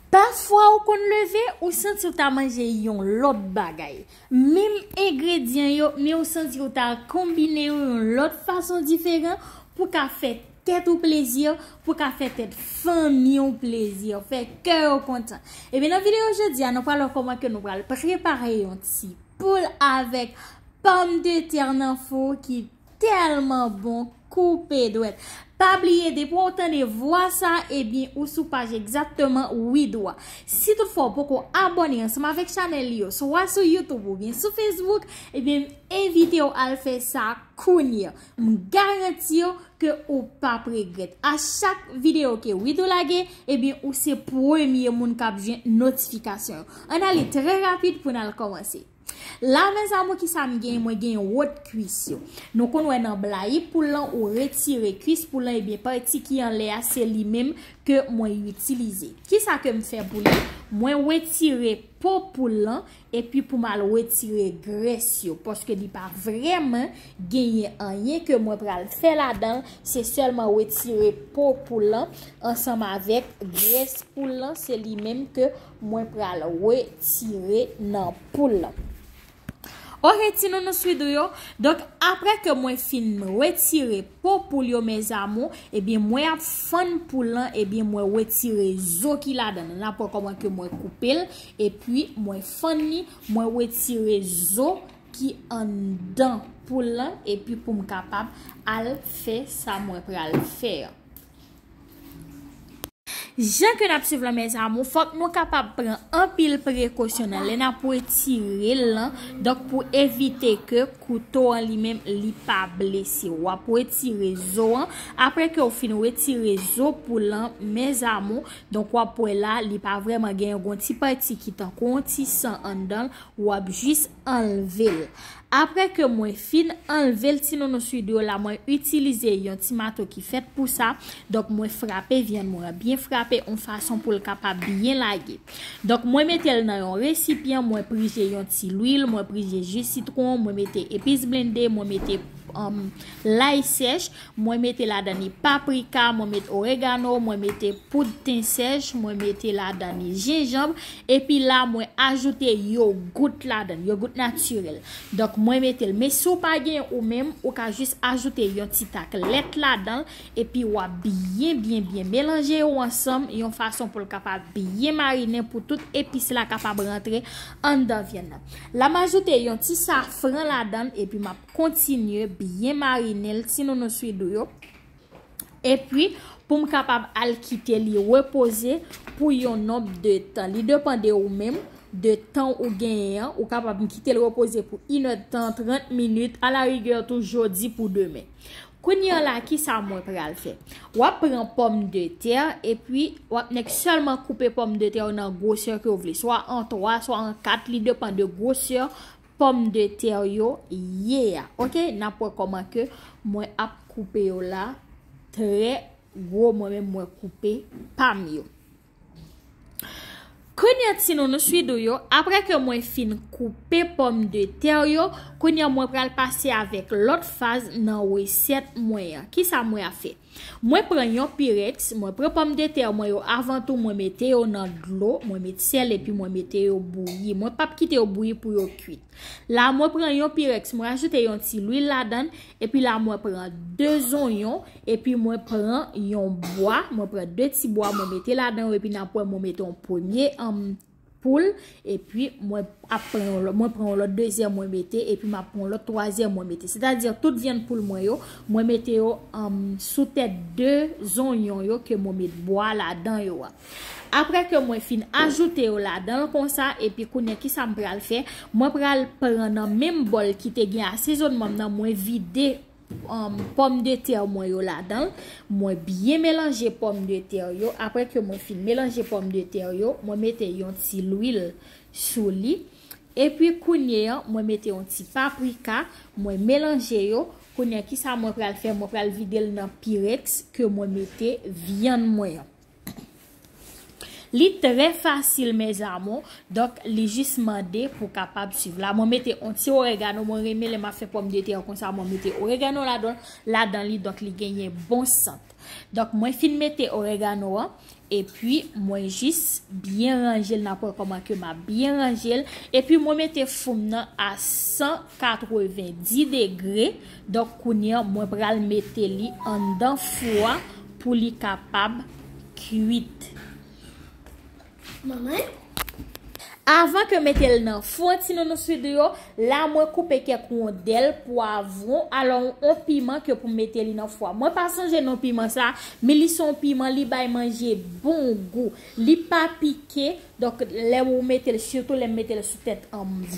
Pafwa ou konn leve ou santi ou ta manje yon lòt bagay. Menm engredyan yo men ou santi ou ta konbine yo yon lòt fason diferan pou ka fè tèt ou plezi, pou ka fè tèt fanmi ou plezi, fè kè yo kontan. Ebyen nan videyo jodi a nou pral wè kòman ke nou pral prepare yon ti poul avèk pòm de tè nan fou ki. Tèlman bon koupe dwèt. Pa bliye depi ou tande vwa sa ebyen ou sou paj egzakteman Widwa. Si tout fwa ou poko abòne ansanm avèk chanèl li yo swa sou YouTube ou byen sou Facebook ebyen m envite ou al fè sa kounya. M garanti ou ke ou pap regrèt. A chak videyo ke Widoo lage ebyen ou se premye moun kap jwenn notifikasyon. An ale trè rapid pou n al kòmanse. La mes amour kisa m genyen mwen genyen wot kwis yo nou konn wè nan blayi poul lan ou retire kwis poul lan ebyen pati ki anlè a se li menm ke mwen itilize kisa ke m fè pou li mwen wetire po poul lan epi pou m al wetire grès yo paske li pa vreman genyen anyen ke mwen pral fè ladan se selman wetire po poul lan ansanm avèk grès poul lan se li menm ke Mwen pral retire nan poul lan. Ok ti nounou swidou yo. Donk apre ke mwen fin retire po poul yo mes amour. Ebyen mwen ap fann poul lan. Ebyen mwen retire zo ki la dan. Nan ap wè koman ke mwen koupe l. Epyi mwen fann li. Mwen retire zo ki an dan poul lan. Epyi pou m kapab al fè sa mwen pral fè an. Jan ke nap swiv lan mes amour fok nou kapab pran anpil prekosyon nan lè nap retirel lan donk pou evite ke kouto an li menm li pa blese ou wap retire zo an apre ke ou fin retire zo poul lan mes amour donk wap wè la li pa vreman gen yon ti pati ki tankou yon ti san anndanl wap jis anlvel aprè ke mwen fin anlvel ti nounou swido la mwen itilize yon ti mato ki fèt pou sa donk mwen frape vyann mwen an byen frape yon fason poul kapab byen lage donk mwen metel nan yon resipyan mwen prije yon ti lwil mwen prije ji sitron mwen mete epis blende mwen mete lay sèch. Mwen mete ladan ni paprika, mwen met oregano, mwen mete poud ten sèch, mwen mete ladan ni jenjanb, epi la mwen ajoute yogout ladan, yogout natirèl. Donk mwen mete l. Men si w pa gen ou menm, ou ka jis ajoute yon ti tak lèt ladan l, epi w ap byen byen byen melanje yo ansanm yon fason pou l kapab byen marinen pou tout epis la kapab rantre anndan vyann nan. La m ajoute yon ti safran ladan l epi m ap. kontinye byen marine l ti nounous widou yo epi pou m kapab al kite li repoze pou yon nonb de tan li depan de ou menm de tan ou genyen an ou kapab m kite l repoze pou inè de tan 30 minit ala rigè tou jodi pou demen kounye an la ki sa mwen pral fè wap pran pòm de tè epi wap nèk sèlman koupe pòm de tè ou nan gwosè ke ou vle swa an 3 swa an 4 li depan de gwosè Pomme de terre yo ye a ok nap wè koman ke mwen ap koupe yo la trè gwo mwen menm mwen koupe pam yo kounya ti nounou swidou yo aprè ke mwen fin koupe pomme de terre yo kounya mwen pral pase avèk lòt faz nan resèt mwen an kisa mwen ap fè Mwen pran yon pyrex, mwen pran pòm de tè mwen yo avan tou mwen mete yo nan dlo, mwen met sèl epi mwen mete yo bouyi. Mwen pap kite yo bouyi pou yo kuit. La mwen pran yon pyrex, mwen ajoute yon ti lwil ladan, epi la mwen pran 2 zonyon, epi mwen pran yon bwa, mwen pran 2 ti bwa mwen mete ladan yo epi nan pwen mwen mete yon premye anm. poul epi mwen ap pran yon lòt mwen pran yon lòt dezyèm mwen mete epi mwen ap pran yon lòt twazyèm mwen mete se ta di tout vyann poul mwen yo mwen mete yo sou tèt de zonyon yo ke mwen met bwa la dan yo a apre ke mwen fin ajoute yo la dan l konsa epi kounye ki sa m pral fè mwen pral pran nan menm bòl ki te gen asezonman m nan mwen vide Pòm de tè mwen yo ladan l. Mwen byen melanje pòm de tè yo. Aprè ke mwen fin melanje pòm de tè yo, mwen mete yon ti lwil sou li. E pi kounye an, mwen mete yon ti paprika. Mwen melanje yo. Kounye an, ki sa mwen pral fè? Mwen pral vide l nan pirèks ke mwen mete vyann mwen an. Li trè fasil mes amour donk li jis mande pou kapab swiv la mwen mete on ti oregano mwen renmen lè map fè pòm de tè konsa mwen mete oregano ladan ladan li donk li genyen bon sant donk mwen fin mete oregano an epi mwen jis byen ranjel nan pwen kòman ke map byen ranjel epi mwen mete foum nan a 190 degre Donk kounya mwen pral mete li anndan fou a pou li kapab kwit. Avan ke mete l nan fou an ti nounous vidéo, la mwen koupe kèk wondèl pwavwon alò on piman ke pou mete li nan fou a. Mwen pa sonje non piman sa, men li son piman li bay manje bon gou. Li pa pike. Donk lè ou metel sitou lèm metel sou tèt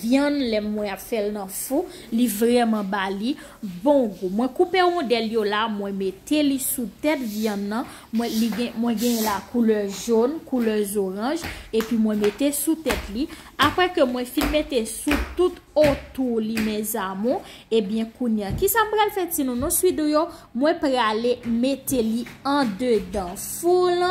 vyann lèm mwen ap fèl nan fou li vrèman bali bon gou mwen koupe rondèl yo la mwen mete li sou tèt vyann nan mwen li gen mwen gen la koulè jon koulè zoranj epi mwen mete sou tèt li aprè ke mwen fin mete sou tout otou li mèzamou ebyen kounya kisa m pral fè ti nounou swidou yo mwen prale mete li andedan foul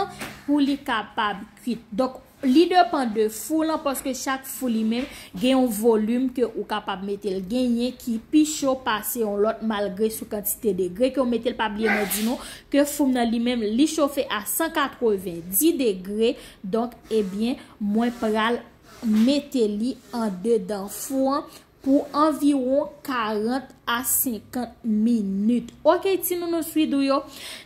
pou li kapab. kwit. Donk, li depan de fou lan paske chak fou li menm gen yon volim ke ou kapab mete l. Genyen ki pi cho pase yon lòt malgre sou kantite degre ke ou mete l. Pa bliye mwen di nou ke foum nan li menm li chofe a 190 degre. Donk, ebyen, mwen pral mete li andedan fou an Pou anviwon 40 a 50 minit. Ok ti nounous widou yo.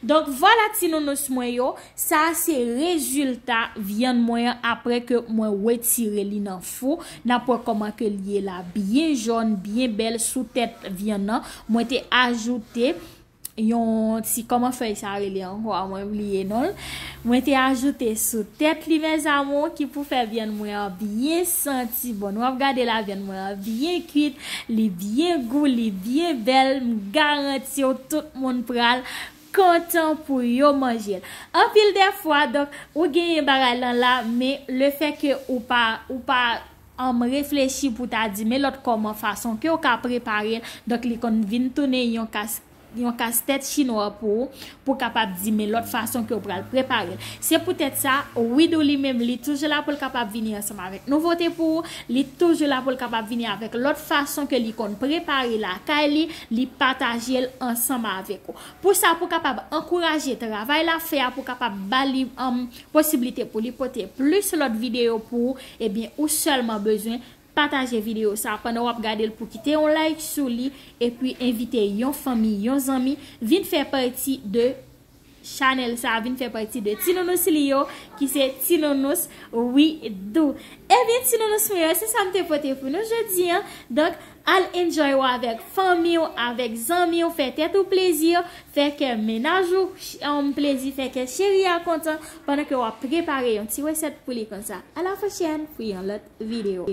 Donk vwala ti nounous mwen yo. Sa a se rezilta vyann mwen an apre ke mwen wetire li nan fou. N ap wè kòman ke li ye la. Byen jòn, byen bèl sou tèt vyann nan. Mwen te ajoute. yon ti kòman fèy sa rele ankò a mwen bliye nonl mwen te ajoute sou tèt li mes amour ki pou fè vyann mwen an byen santi bon nou ap gade la vyann mwen an byen kuit li byen gou li byen bèl m garantiw tout moun pral kontan pou yo manjel anpil dèfwa donk ou genyen bagay lan la men le fè ke ou pa ou pa Anm reflechi pou ta di men lòt kòman fason kew ka prepare l donk li konn vin tounen yon kas yon kas tèt chinwa pou ou pou kapab di men lòt fason kew pral prepare l se poutèt sa Widoo li menm li toujou la poul kapab vini ansanm avèk nouvote pou ou li toujou la poul kapab vini avèk lòt fason ke li konn prepare lakay li li pataje l ansanm avèk ou pou sa pou kapab ankouraje travay lap fè a pou kapab bali anm posiblite pou li pote plis lòt videyo pou ou ebyen ou sèlman bezwen pataje videyo sa pandan wap gadel pou kite yon like sou li epi envite yon fanmi yon zanmi vin fè pati de chanèl sa vin fè pati de ti nounous li yo ki se ti nounous widoo ebyen ti nounous mwen yo se sam te pote pou nou jodi an donk Al enjoy ou avèk fanmi ou, avèk zanmi ou, fè tèt ou plezi, fè kè mennaj ou plezi, fè kè cheri a kontan pandan ke wap prepare yon ti resèt pou li konsa. A la pwochèn pou yon lòt videyo.